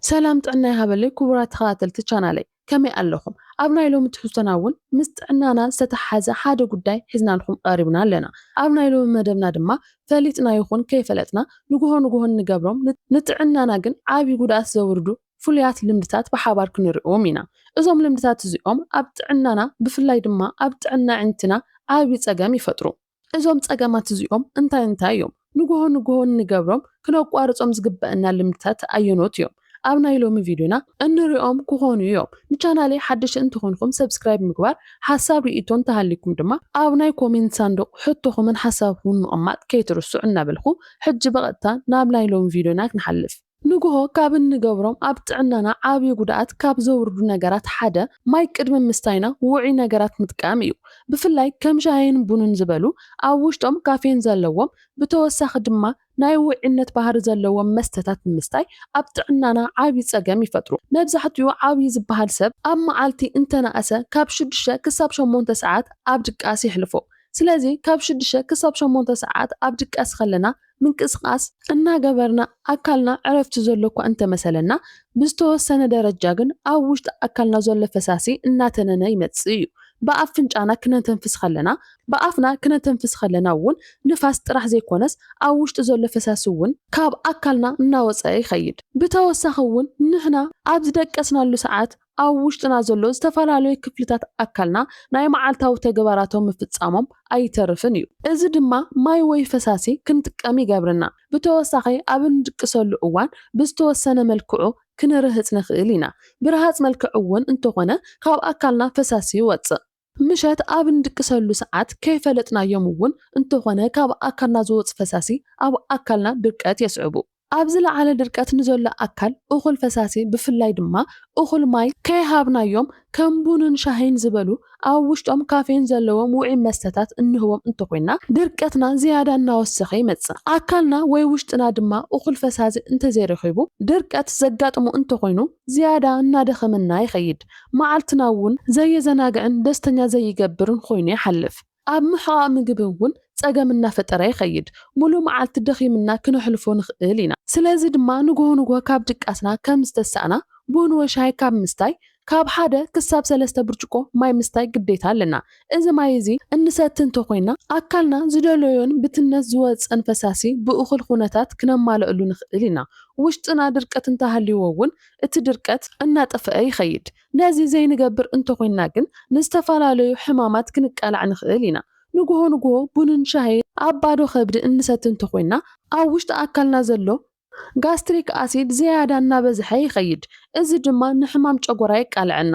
ሰላም ጥዕና ይሃበለይ ኩቡራት ተኸታተልቲ ቻናለይ ከመይ ኣለኹም ኣብ ናይ ሎሚ ትሕዝቶና ውን ምስ ጥዕናና ዝተተሓሓዘ ሓደ ጉዳይ ሒዝናልኹም ቐሪብና ኣለና ኣብ ናይ ሎሚ መደብና ድማ ፈሊጥና ይኹን ከይፈለጥና ንጉሆ ንጉሆ እንገብሮም ንጥዕናና ግን ዓብይ ጉድኣት ዘውርዱ ፍሉያት ልምድታት ብሓባር ክንሪኦም ኢና እዞም ልምድታት እዚኦም ኣብ ጥዕናና ብፍላይ ድማ ኣብ ጥዕና ኣዒንትና ዓብይ ፀገም ይፈጥሩ እዞም ጸገማት እዚኦም እንታይ እንታይ እዮም? ንጉሆ ንጉሆ እንገብሮም ክነቋርጾም ዝግበእና ልምድታት ኣየኖት እዮም? ኣብ ናይ ሎሚ ቪድዮና እንሪኦም ክኾኑ እዮም። ንቻናለይ ሓደሽቲ እንተኾንኩም ሰብስክራይብ ምግባር፣ ሓሳብ ሪኢቶ እንተሃልይኩም ድማ ኣብ ናይ ኮሜንት ሳንዱቕ ሕቶኹምን ሓሳብኩምን ምቕማጥ ከይትርስዑ እናበልኩ ሕጂ ብቐጥታ ናብ ናይ ሎሚ ቪድዮና ክንሓልፍ። ንጉሆ ካብ እንገብሮም ኣብ ጥዕናና ዓቢ ጉድኣት ካብ ዘውርዱ ነገራት ሓደ ማይ ቅድሚ ምስታይና ውዑይ ነገራት ምጥቃም እዩ። ብፍላይ ከም ሻሂን ቡንን ዝበሉ ኣብ ውሽጦም ካፌን ዘለዎም ብተወሳኺ ድማ ናይ ውዑይነት ባህሪ ዘለዎም መስተታት ብምስታይ ኣብ ጥዕናና ዓቢ ጸገም ይፈጥሩ። መብዛሕትኡ ዓብዪ ዝበሃል ሰብ ኣብ መዓልቲ እንተነኣሰ ካብ ሽዱሽተ ክሳብ ሸሞንተ ሰዓት ኣብ ድቃስ የሕልፎ። ስለዚ ካብ ሽዱሽተ ክሳብ ሸሞንተ ሰዓት ኣብ ድቃስ ከለና ምንቅስቓስ እናገበርና ኣካልና ዕረፍቲ ዘሎ'ኳ እንተመሰለና፣ ብዝተወሰነ ደረጃ ግን ኣብ ውሽጢ ኣካልና ዘሎ ፈሳሲ እናተነነ ይመጽእ'ዩ። ብኣፍንጫና ክነተንፍስ ከለና፣ ብኣፍና ክነተንፍስ ከለና'ውን ንፋስ ጥራሕ ዘይኮነስ ኣብ ውሽጢ ዘሎ ፈሳሲ'ውን ካብ ኣካልና እናወጸ ይኸይድ። ብተወሳኺ'ውን ንሕና ኣብ ዝደቀስናሉ ሰዓት ኣብ ውሽጥና ዘሎ ዝተፈላለዩ ክፍልታት ኣካልና ናይ መዓልታዊ ተግባራቶም ምፍጻሞም ኣይተርፍን እዩ። እዚ ድማ ማይ ወይ ፈሳሲ ክንጥቀም ይገብረና። ብተወሳኺ ኣብ እንድቅሰሉ እዋን ብዝተወሰነ መልክዑ ክንርህጽ ንኽእል ኢና። ብርሃጽ መልክዕ እውን እንተኾነ ካብ ኣካልና ፈሳሲ ይወጽእ። ምሸት ኣብ እንድቅሰሉ ሰዓት ከይፈለጥናዮም እውን እንተኾነ ካብ ኣካልና ዝወፁ ፈሳሲ ኣብ ኣካልና ድርቀት የስዕቡ። ኣብ ዝለዓለ ድርቀት ንዘሎ ኣካል እኹል ፈሳሲ ብፍላይ ድማ እኹል ማይ ከይሃብናዮም ከም ቡንን ሻሂን ዝበሉ ኣብ ውሽጦም ካፌን ዘለዎም ውዑይ መስተታት እንህቦም እንተኾይንና ድርቀትና ዝያዳ እናወሰኸ ይመፅእ። ኣካልና ወይ ውሽጥና ድማ እኹል ፈሳሲ እንተዘይረኺቡ ድርቀት ዘጋጥሞ እንተኾይኑ ዝያዳ እናደኸመና ይኸይድ፣ መዓልትና እውን ዘየዘናግዕን ደስተኛ ዘይገብርን ኾይኑ ይሓልፍ። ኣብ ምሕቓቕ ምግቢ እውን ፀገም እናፈጠረ ይኸይድ፣ ሙሉእ መዓልቲ ደኺምና ክነሕልፎ ንኽእል ኢና። ስለዚ ድማ ንጉሆ ንጉሆ ካብ ድቃስና ከም ዝተሳእና ቡን ወይ ሻሂ ካብ ምስታይ ካብ ሓደ ክሳብ ሰለስተ ብርጭቆ ማይ ምስታይ ግዴታ ኣለና። እዚ ማይ እዚ እንሰቲ እንተኾይና ኣካልና ዝደለዮን ብትነት ዝወጽእን ፈሳሲ ብእኹል ኹነታት ክነማልእሉ ንኽእል ኢና። ውሽጥና ድርቀት እንተሃልይዎ እውን እቲ ድርቀት እናጠፈኣ ይኸይድ። ነዚ ዘይንገብር እንተኾይና ግን ንዝተፈላለዩ ሕማማት ክንቃላዕ ንኽእል ኢና። ንጉሆ ንጉሆ ቡንን ሻሂን ኣብ ባዶ ከብዲ እንሰቲ እንተኾይና ኣብ ውሽጢ ኣካልና ዘሎ ጋስትሪክ ኣሲድ ዝያዳ እናበዝሐ ይኸይድ፣ እዚ ድማ ንሕማም ጨጎራ የቃልዐና።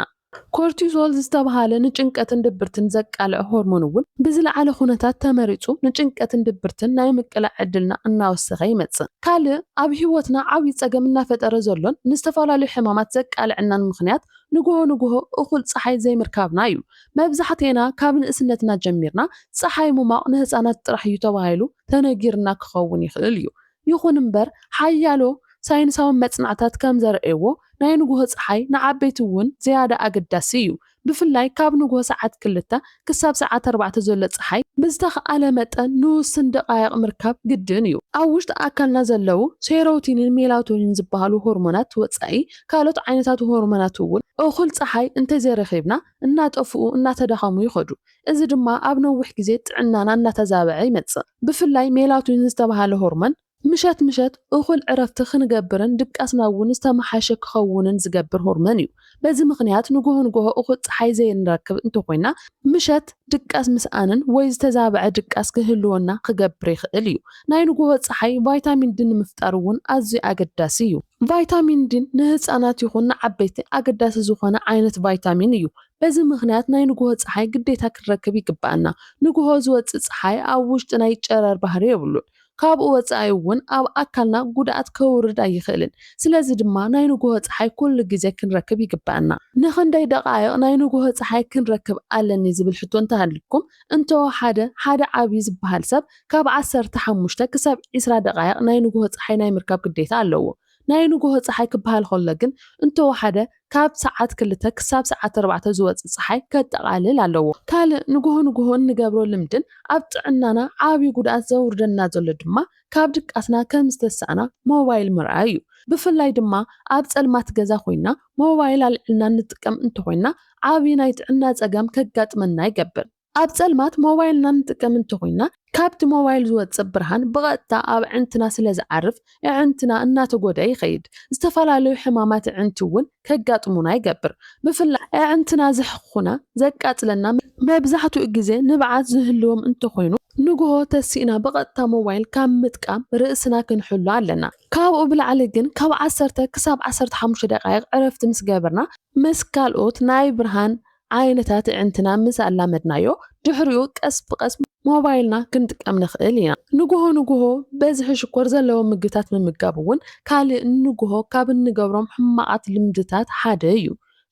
ኮርቲሶል ዝተብሃለ ንጭንቀትን ድብርትን ዘቃልዕ ሆርሞን እውን ብዝለዓለ ኩነታት ተመሪጹ ንጭንቀትን ድብርትን ናይ ምቅላዕ ዕድልና እናወሰኸ ይመጽእ። ካልእ ኣብ ህይወትና ዓብዪ ጸገም እናፈጠረ ዘሎን ንዝተፈላለዩ ሕማማት ዘቃልዐናን ምኽንያት ንጉሆ ንጉሆ እኹል ጸሓይ ዘይምርካብና እዩ። መብዛሕትኤና ካብ ንእስነትና ጀሚርና ጸሓይ ምሟቕ ንህጻናት ጥራሕ እዩ ተባሂሉ ተነጊርና ክኸውን ይኽእል እዩ። ይኹን እምበር፣ ሓያሎ ሳይንሳዊ መጽናዕታት ከም ዘርእይዎ፣ ናይ ንግሆ ጸሓይ ንዓበይቲ እውን ዝያዳ ኣገዳሲ እዩ፣ ብፍላይ ካብ ንግሆ ሰዓት ክልተ ክሳብ ሰዓት ኣርባዕተ ዘሎ ጸሓይ፣ ብዝተኻእለ መጠን ንውሱን ደቓይቕ ምርካብ ግድን እዩ። ኣብ ውሽጢ ኣካልና ዘለዉ ሴሮቲኒን ሜላቶኒን ዝበሃሉ ሆርሞናት ወጻኢ ካልኦት ዓይነታት ሆርሞናት እውን እኹል ጸሓይ እንተዘይረኺብና እናጠፍኡ እናተዳኸሙ ይኸዱ። እዚ ድማ ኣብ ነዊሕ ግዜ ጥዕናና እናተዛበዐ ይመጽእ። ብፍላይ ሜላቶኒን ዝተባህለ ሆርሞን፣ ምሸት ምሸት እኹል ዕረፍቲ ክንገብርን ድቃስና እውን ዝተመሓየሸ ክኸውንን ዝገብር ሆርሞን እዩ። በዚ ምኽንያት ንጉሆ ንጉሆ እኹል ጸሓይ ዘይንረክብ እንተኾይና፣ ምሸት ድቃስ ምስኣንን ወይ ዝተዛበዐ ድቃስ ክህልወና ክገብር ይኽእል እዩ። ናይ ንጉሆ ጸሓይ ቫይታሚን ዲ ንምፍጣር እውን ኣዝዩ ኣገዳሲ እዩ። ቫይታሚን ዲ ንህጻናት ይኹን ንዓበይቲ ኣገዳሲ ዝኾነ ዓይነት ቫይታሚን እዩ። በዚ ምኽንያት ናይ ንጉሆ ጸሓይ ግዴታ ክንረክብ ይግበኣና። ንጉሆ ዝወጽእ ጸሓይ ኣብ ውሽጢ ናይ ጨረር ባህሪ የብሉን። ካብኡ ወጻኢ እውን ኣብ ኣካልና ጉድኣት ከውርድ ኣይኽእልን። ስለዚ ድማ ናይ ንጉሆ ጸሓይ ኩሉ ግዜ ክንረክብ ይግበኣና። ንኽንደይ ደቓይቕ ናይ ንጉሆ ጸሓይ ክንረክብ ኣለኒ ዝብል ሕቶ እንተሃልዩኩም፣ እንተወሓደ ሓደ ዓብዪ ዝበሃል ሰብ ካብ ዓሰርተ ሓሙሽተ ክሳብ ዕስራ ደቓይቕ ናይ ንጉሆ ጸሓይ ናይ ምርካብ ግዴታ ኣለዎ። ናይ ንጉሆ ጸሓይ ክበሃል ከሎ ግን እንተወሓደ ካብ ሰዓት ክልተ ክሳብ ሰዓት ኣርባዕተ ዝወጽእ ጸሓይ ከጠቓልል ኣለዎ። ካልእ ንጉሆ ንጉሆ እንገብሮ ልምድን ኣብ ጥዕናና ዓብዪ ጉድኣት ዘውርደልና ዘሎ ድማ ካብ ድቃስና ከም ዝተሳእና ሞባይል ምርኣይ እዩ። ብፍላይ ድማ ኣብ ጸልማት ገዛ ኮይንና ሞባይል ኣልዒልና እንጥቀም እንተኾይንና ዓቢ ናይ ጥዕና ጸገም ከጋጥመና ይገብር። ኣብ ጸልማት ሞባይልና እንጥቀም እንተኾይንና ካብቲ ሞባይል ዝወጽእ ብርሃን ብቐጥታ ኣብ ኣዕንትና ስለዝዓርፍ ኣዕንትና እናተጎድኣ ይኸይድ። ዝተፈላለዩ ሕማማት ኣዕንቲ እውን ከጋጥሙና ይገብር። ብፍላይ ኣዕንትና ዘሕኹኹና፣ ዘቃጽለና፣ መብዛሕትኡ ግዜ ንብዓት ዝህልዎም እንተኾይኑ ንግሆ ተሲእና ብቐጥታ ሞባይል ካብ ምጥቃም ርእስና ክንሕሉ ኣለና። ካብኡ ብላዕሊ ግን ካብ ዓሰርተ ክሳብ ዓሰርተ ሓሙሽተ ደቓይቕ ዕረፍቲ ምስ ገበርና፣ ምስ ካልኦት ናይ ብርሃን ዓይነታት ኣዒንትና ምስ ኣላመድናዮ፣ ድሕሪኡ ቀስ ብቐስ ሞባይልና ክንጥቀም ንኽእል ኢና። ንጉሆ ንጉሆ በዝሒ ሽኮር ዘለዎም ምግብታት ምምጋብ እውን ካልእ ንጉሆ ካብ እንገብሮም ሕማቓት ልምድታት ሓደ እዩ።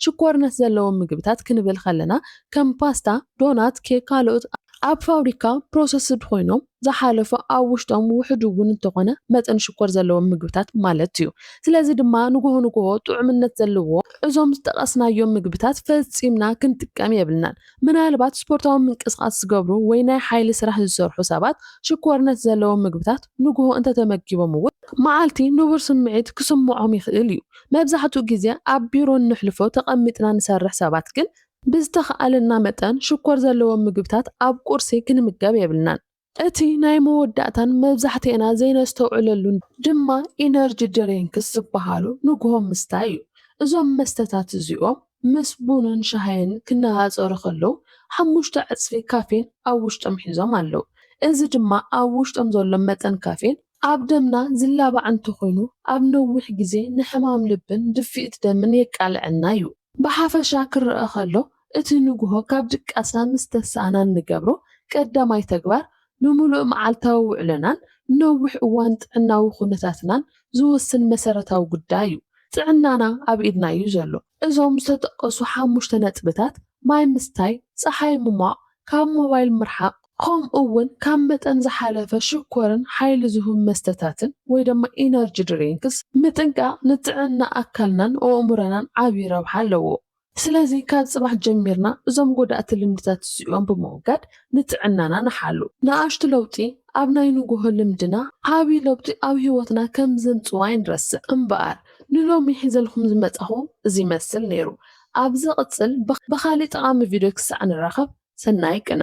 ሽኮርነት ዘለዎም ምግብታት ክንብል ከለና ከም ፓስታ፣ ዶናት፣ ኬክ ካልኦት ኣብ ፋብሪካ ፕሮሰስድ ኮይኖም ዝሓለፉ ኣብ ውሽጦም ውሑድ እውን እንተኾነ መጠን ሽኮር ዘለዎም ምግብታት ማለት እዩ። ስለዚ ድማ ንጉሆ ንጉሆ ጥዑምነት ዘለዎ እዞም ዝጠቐስናዮም ምግብታት ፈጺምና ክንጥቀም የብልናን። ምናልባት ስፖርታዊ ምንቅስቓስ ዝገብሩ ወይ ናይ ሓይሊ ስራሕ ዝሰርሑ ሰባት ሽኮርነት ዘለዎም ምግብታት ንግሆ እንተ ተመጊቦም እውን መዓልቲ ንቡር ስምዒት ክስምዖም ይኽእል እዩ። መብዛሕትኡ ግዜ ኣብ ቢሮ እነሕልፎ ተቐሚጥና ንሰርሕ ሰባት ግን ብዝተኻእለና መጠን ሽኮር ዘለዎም ምግብታት ኣብ ቁርሲ ክንምገብ የብልናን። እቲ ናይ መወዳእታን መብዛሕትኤና ዘይነስተውዕለሉን ድማ ኢነርጂ ድሬንክስ ዝበሃሉ ንጉሆ ምስታይ እዩ። እዞም መስተታት እዚኦም ምስ ቡንን ሻሂን ክነፃፀሩ ከለው ሓሙሽተ ዕፅፊ ካፌን ኣብ ውሽጦም ሒዞም ኣለው። እዚ ድማ ኣብ ውሽጦም ዘሎ መጠን ካፌን ኣብ ደምና ዝላባዕ እንተኾይኑ ኣብ ነዊሕ ግዜ ንሕማም ልብን ድፍኢት ደምን የቃልዐና እዩ። ብሓፈሻ ክረኣ ከሎ እቲ ንጉሆ ካብ ድቃስና ምስ ተሳእና እንገብሮ ቀዳማይ ተግባር ንምሉእ መዓልታዊ ውዕሎናን ንነዊሕ እዋን ጥዕናዊ ኩነታትናን ዝውስን መሰረታዊ ጉዳይ እዩ። ጥዕናና ኣብ ኢድና እዩ ዘሎ። እዞም ዝተጠቀሱ ሓሙሽተ ነጥብታት ማይ ምስታይ፣ ጸሓይ ምሟቕ፣ ካብ ሞባይል ምርሓቕ፣ ከምኡ እውን ካብ መጠን ዝሓለፈ ሽኮርን ሓይሊ ዝሁብ መስተታትን ወይ ደማ ኢነርጂ ድሪንክስ ምጥንቃቕ ንጥዕና ኣካልናን ኦእሙረናን ዓቢ ረብሓ ኣለዎ። ስለዚ ካብ ጽባሕ ጀሚርና እዞም ጎዳእቲ ልምድታት እዚኦም ብምውጋድ ንጥዕናና ንሓሉ። ንኣሽቱ ለውጢ ኣብ ናይ ንጉሆ ልምድና ዓቢ ለውጢ ኣብ ህይወትና ከም ዘምጽኡ ኣይንረስዕ። እምበኣር ንሎሚ ሒዘልኩም ዝመጻኹ እዚ ይመስል ነይሩ ኣብ ዝቕጽል ብኻሊእ ጠቓሚ ቪድዮ ክሳዕ ንራኸብ ሰናይ ቅነ።